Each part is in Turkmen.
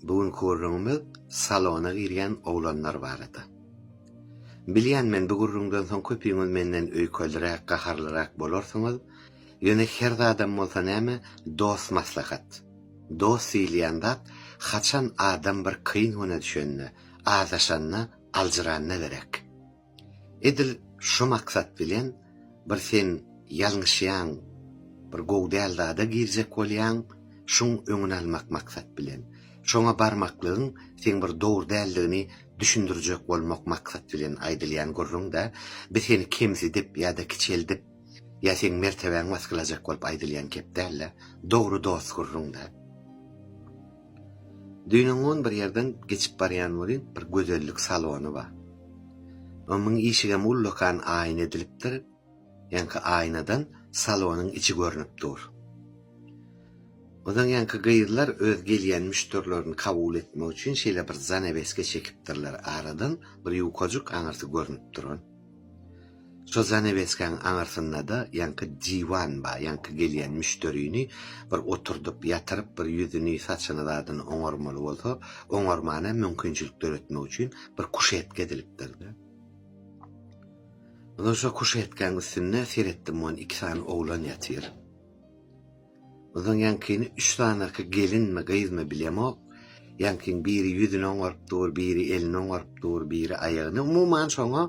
Bu günki gürrüňimiz salona girýän oglanlar barada. Bilýän men bu gürrüňden soň köpüňiz menden öýkeldiräk, gaharlyrak bolarsyňyz, ýöne her zadam bolsa näme, dost maslahat. Dost diýilýän zat haçan adam bir kyn güne düşende, azaşanda, aljyranda gerek. Edil şu maksat bilen bir sen ýalňyşýaň, bir gowy däl zada girjek bolýaň, şuň öňüni almak maksat bilen. Şoňa barmaklygyň seň bir dogry däldigini düşündirjek bolmak maksat bilen aýdylýan gürrüň-dä, bi seni kemsidip ýa-da kiçeldip, ýa seň mertebäň basgylajak bolup aýdylýan gep däl-dä, dogry dost gürrüň-dä. Düýnüňňun bir ýerden geçip barýan welin, bir gözellik salony bar. Omuň işigem ullakan aýna edilipdir, ýaňky aýnadan salonyň içi görnüp dur. Ozaň ýaňky gyzlar öz gelýän müşderilerini kabul etmek üçin şeýle bir zanaweske çekipdirler, aradan bir ýukajyk aňyrsy görnüp duran. Şo zanaweskäň aňyrsyndada ýaňky diwan bar, ýaňky gelýän müşderini bir oturdyp, ýatyryp bir ýüzüni, saçyny zadyny oňarmaly bolsa, oňarmana mümkinçilik döretmek üçin bir kuşetka edilipdir-de. Ondan soň kuşetkäň üstünde seretdim, on iki sany oglan ýatyr. Gyzyň ýaňkyny üç sanaky gelinmi, gyzmy bilemok. Ýaňkyň biri ýüzüni oňaryp dur, biri elini oňaryp dur, biri aýagyny, umuman şoňa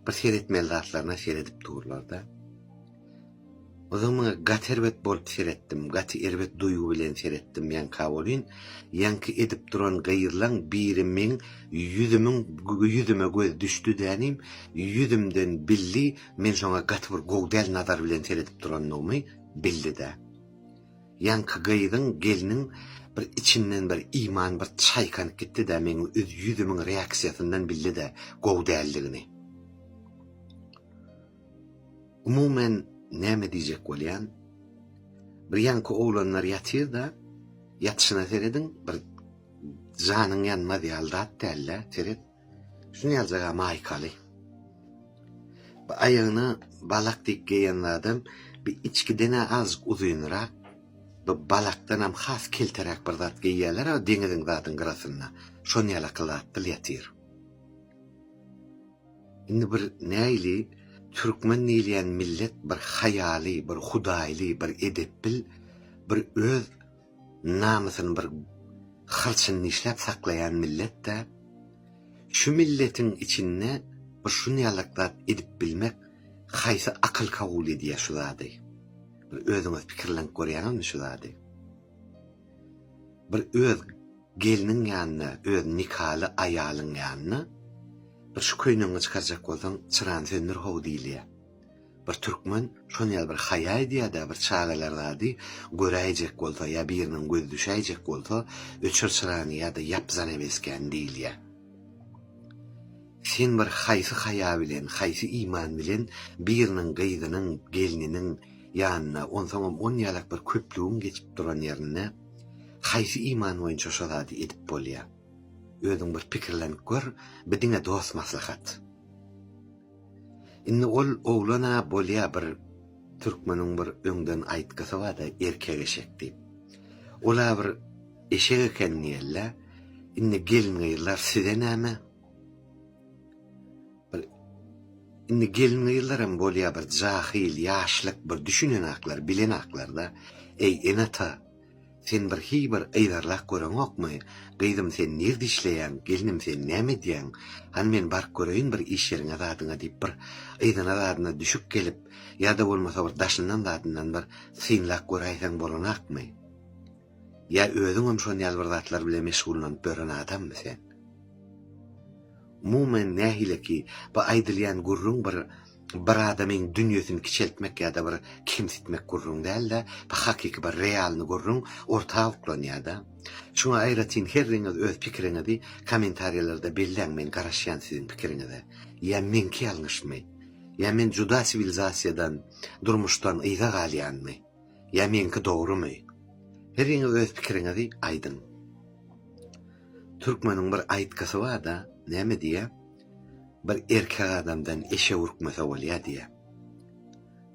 bir seretmeli zatlaryna seredip durlar-da. Gyzyň maňa gaty erbet bolup seretdim, gaty erbet duýgy bilen seretdim ýaňka welin, ýaňky edip duran gyzlaň biri meň ýüzümiň ýüzüme gözi düşdi-de inim, ýüzümden bildi, men şoňa gaty bir gowy däl nazar bilen seredip durandygymy. Bildi-de. Ýaňky gyzyň, gelniň bir içinden bir iman bir çaýkanyp gitdi-de, meň ýüzümiň reaksiýasyndan bildi-de gowy däldigini. Umuman, näme diýjek bolýan? Bir ýaňky oglanlar ýatyr-da, ýatyşyna serediň, bir janyň ýanmaz ýaly zat däl-de, seret. Şunu yazacaga maýkaly. Bu aýagyna balak diýip geýen zadam bir içkidene azjyk uzynrak, bu balakdan hem has kelteräk bir zat geýýärler o deňiziň zadyň gyrasynda. Şony ýala kylatdyl ýatyr. Indi bir näýli türkmen diýilýän millet bir haýaly, bir hudaýly, bir edepbil, bir öz namysyny bir hyrçyn dişläp saklaýan millet-dä. Şu milletiň içinde bir şunýalak zat edip bilmek haýsy akyl kabul edýär şu zady? Bir özüňiz pikirlenip görýäňizmi şu zady? Bir öz gelniň ýanyna, öz nikaly aýalyň ýanyna bir şu köýnegiňi çykarjak bolsaň, çyrany söndür how diýilýär. Bir türkmen şony ýaly bir haýa edýär-dä, bir çagalar zady göräýjek bolsa ýa biriniň gözi düşäýjek bolsa, öçür çyrany ýa-da ýap zanaweskäni diýilýär. Sen bir haýsy haýa bilen, haýsy iman bilen biriniň gyzynyň, gelniniň ýanyna, onsoňam on ýalak bir köplügiň geçip duran ýerinde haýsy iman boýunça şo zady edip bolýar? Özüň bir pikirlenip gör, bi diňe dost maslahat. Indi ol oglan-a bolýa bir türkmeniň bir öňden aýtgysy barda erkek eşek diýip. Ol-a bir eşek eken diýeli-dä. Indi gelin-gyzlar size näme? Bir indi gelin-gyzlaram bolýa bir jahyl, ýaşlyk bir düşünenaklar, bilenaklar-da. Eý, ene-ata! Sen bir hiý bir yzarlap göreňokmy? Gyzym sen nirde işleýäň, gelnim sen näme edýäň? Hany men baryp göreýin bir iş ýeriňe zadyňa diýip bir yzyna zadyna düşüp gelip, ýa-da bolmasa bir daşyndan zadyndan bir synlap göräýseň bolanakmy? Ýa özüňem şon ýaly bir zatlar bilen meşgullanyp ýören adammy sen? Umuman nähili ki, bu aýdylýan gürrüň bir bir adamyň dünýesini kiçeltmek ýa-da bir kemsitmek gürrüň däl-de, bu hakyky bir realny gürrüň orta uklanýar-da. Şuňa aýratyn herriňiz öz pikiriňizi kommentariýalarda belläň men garaşýan siziň pikiriňize. Ýa meňki ýalňyşmy? Ýa men juda siwilizasiýadan, durmuşdan yza galýanmy? Ýa meňki dogrymy? Heriňiz öz pikiriňizi aýdyň. Türkmeniň bir aýtgysy barda, näme diýýä? Bir erkek adamdan eşek ürkmese bolýa diýýä.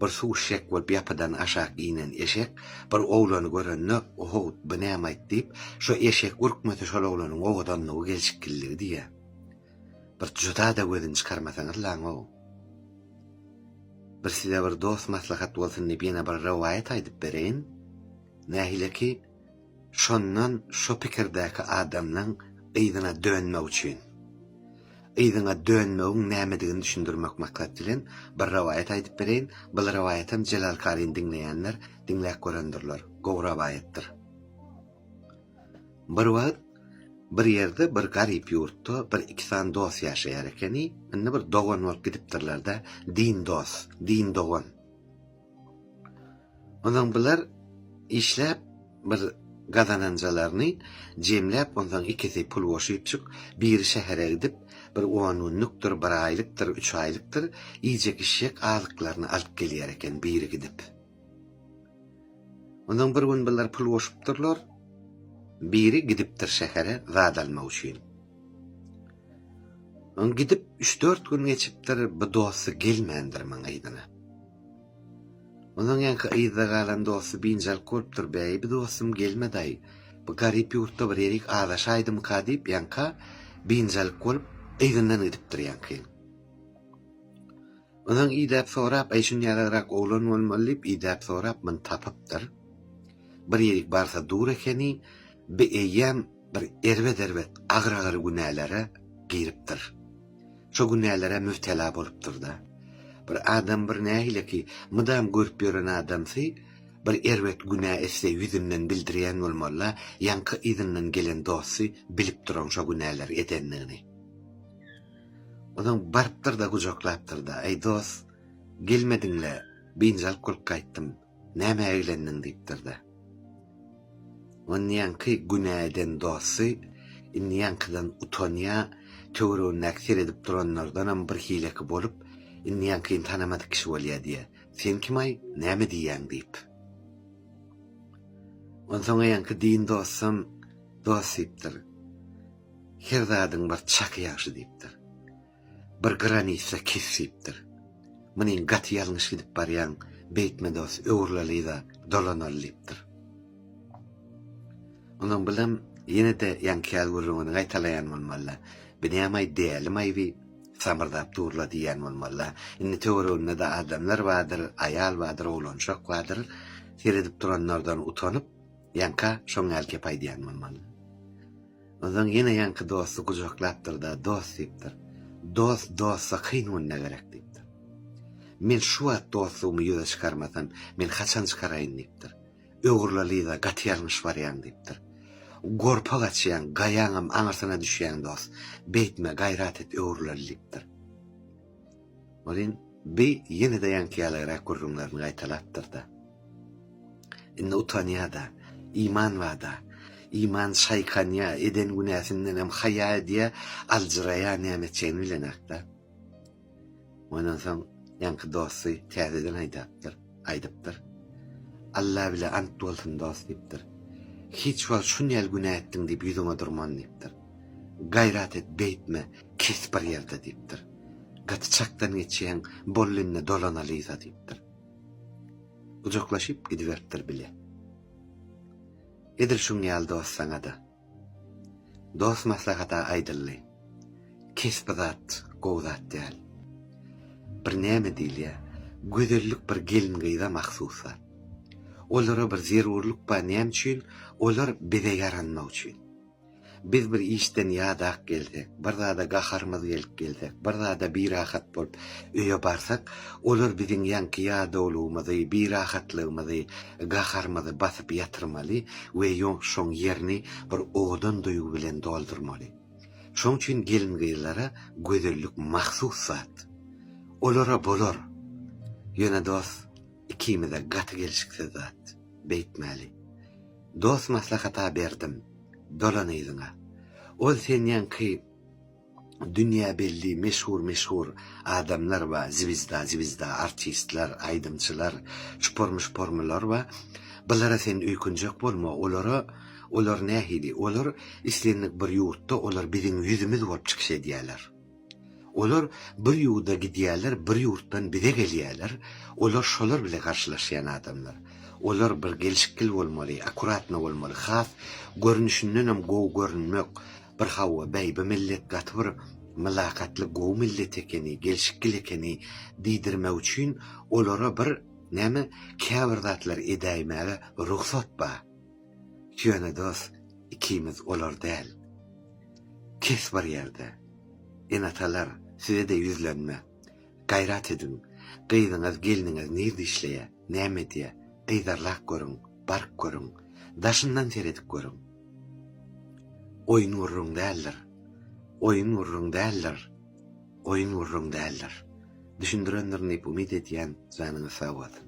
Bir suw içjek bolup ýapydan aşak inen eşek bir oglany görende, Ohowt, bu näme aýt diýip, şo eşek ürkmese şol oglanyň owadanlygy, gelşikgilligi diýýä. Bir juda-da gözüni çykarmasaňyz laň-ow. Bir size bir dost maslahat bolsun diýip ýene bir rowaýat aýdyp bereýin. Nähili ki, şondan şo pikirdäki adamlaň yzyna dönmek üçin. Yzyňa dönmegiň nämedigini düşündirmek maksat bilen bir rowaýat aýdyp bereýin. Bul rowaýatam Jelal karyny diňleýänler diňläp görendirler. Gowy rowaýatdyr. Bir wagt bir ýerde bir garyp ýurtda bir iki sany dos ýaşaýar ekeni, indi bir dogan bolup gidipdirlerde din dos, din dogan. Onsoň bular işläp bir gazananjalaryny jemläp onsoň ikisi pul goşypjyk biri şähere gidip bir on günlükdir bir aýlykdyr üç aýlykdyr iýjek içjek azyklaryny alyp gelýär eken biri gidip. Ondan bir gün bular pul goşupdyrlar. Biri gidipdir şähere zat almak üçin. Oň gidip üç-dört gün geçipdir, bu dosty gelmändir maňa yzyna. Ondan ýaňky yzda galan dosty biynjalk bolupdyr, Bäý, bu dostum gelmedi-aý, bu garyp ýurtda bir ýerik azaşaýdymyka diýip, ýaňka biynjalk bolup, yzyndan gidipdir ýaňky ýyl. Ondan idäp sorap, Eý, şun ýalyrak oglan bolmaly diýip, idäp sorap, muny tapypdyr. Bir ýerik barsa dur ekeni, bi eýýäm bir erbet-erbet, agyr-agyr günälere giripdir. Şo günälere mübtela bolupdyr-da. Bir adam bir nähili ki, mydam görüp ýören adamsy bir erbet günä etse ýüzünden bildirýän bolmaly-la, ýaňky yzyndan gelen dosty bilip duran şo günäleri edendigini. Onam barypdyr-da, gujaklapdyr-da, Eý, dost, gelmediň-le, biynjalyk bolup gaýtdym, nämä eglendiň? diýipdir-de. Onýanky günä eden dosty indi ýaňkydan utanýar, töweregindäki seredip duranlardanam bir hileki bolup, indi ýaňkyny tanamadyk kişi bolýar diýýär. Sen kim-aý, näme diýýäň? diýip. Onsoň ýaňky din dostam, Dost, diýipdir. Her zadyň bir çaky ýagşy diýipdir. Bir granitsa kes diýipdir. Munyň gaty ýalňyş gidip barýaň, beýtme dos, öwrülalyda, dolanaly diýipdir. Onuň bilen ýene-de ýaňkyýaz gürrüňini gaýtalaýan bolmaly-la. Binýamaý däli maýby samyrdap dur-la diýýän bolmaly-la. Indi töwereginde-de adamlar bardyr, aýal bardyr, oglanjak bardyr. Seredip duranlardan utanyp, Ýaňka şoň ýaly gep aýdýan bolmaly. Onsoň ýene ýaňky dosty gujaklapdyr-da, Dost diýipdir. Dost dosta kyn günde gerek diýipdir. Men şu wagt dostlugymy ýüze çykarmasam, men haçan çykaraýyn diýipdir. Öwrüle Liza, gaty ýalňyş barýaň diýipdir. Gorpa gaçýaň, gaýaňam aňyrsyna düşýäň dost. Beýtme, gaýrat et, öwrüleli diýipdir. Welin, bi ýene-de ýaňky-ýalyrak gürrüňlerini gaýtalapdyr-da. Indi utanýa-da, iman bada, iman şaýkanýa, eden günäsindenem haýa edýä, aljyraýa nämeçeýini bilenak-da. Ondan soň ýaňky dosty täzeden aýdapdyr. Aýdypdyr. Alla bile ant bolsun dost diýipdir. Hiç wagt şunýal günä etdiň diýip ýüzüňe durman diýipdir. Gaýrat et beýtme kes bir ýerde diýipdir. Gaty çakdan geçýäň bolly indi dolanalyza diýipdir. Gujaklaşyp gidiberipdir bile. Edil şuňýal dost saňada. Dost maslahata aýdyldy. Kesbi zat, gowy zat däl. Bir näme diýilýä, gözellik bir gelin-gyza mahsus zat. Olara bir zerurlyk bar näme üçin, olar bize ýaranmak üçin. Biz bir işden ýadak gelsek, bir zada gaharymyz gelip gelsek, bir zada birahat bolup öýe barsak, olar biziň ýaňky ýadawlygymyzy, birahatlygymyzy, Gaharymyzy basyp ýatyrmaly we şoň ýerini bir owadan duýgy bilen doldurmaly. Şoň üçin gelin-gyzlara gözellik mahsus zat. Olara bolar. Ýöne dost ikimize gaty gelşiksiz zat. Beýtmäli. Dost maslahat-a berdim. Dolan yzyňa. Ol senýanky. Dünýä belli meşhur meşhur adamlar we zwizda zwizda artistler aýdymçylar çupar muşparmylar we bulara sen öýkünjek bolma olara olar nähili olar islendik bir ýurtda olar biziň ýüzümiz bolup çykyş edýäler olar bir ýurda gidýäler bir ýurtdan bize gelýäler olar şolar bile garşylaşýan adamlar olar bir gelşikgil bolmaly akuratno bolmaly has görnüşindenem gowy görünmek Bir hawa beýbi millet gaty bir mylakatly gowy millet ekeni gelşikgil ekeni diýdirmek üçin olara bir näme käbir zatlar edäýmäge rugsat ba ýöne dos ikimiz olar däl kes bir ýerde enatalar sizede ýüzlenme Gaýrat ediň. Gyzyňyz, gelniňiz nirde işleýär, näme edýär? Yzarlap görüň, baryp görüň. Daşyndan seredip görüň. Oýun gürrüň däldir. Oýun gürrüň däldir. Oýun gürrüň däldir. Düşündirendirin diýip umyt edýän, janyňyz sag bolsun.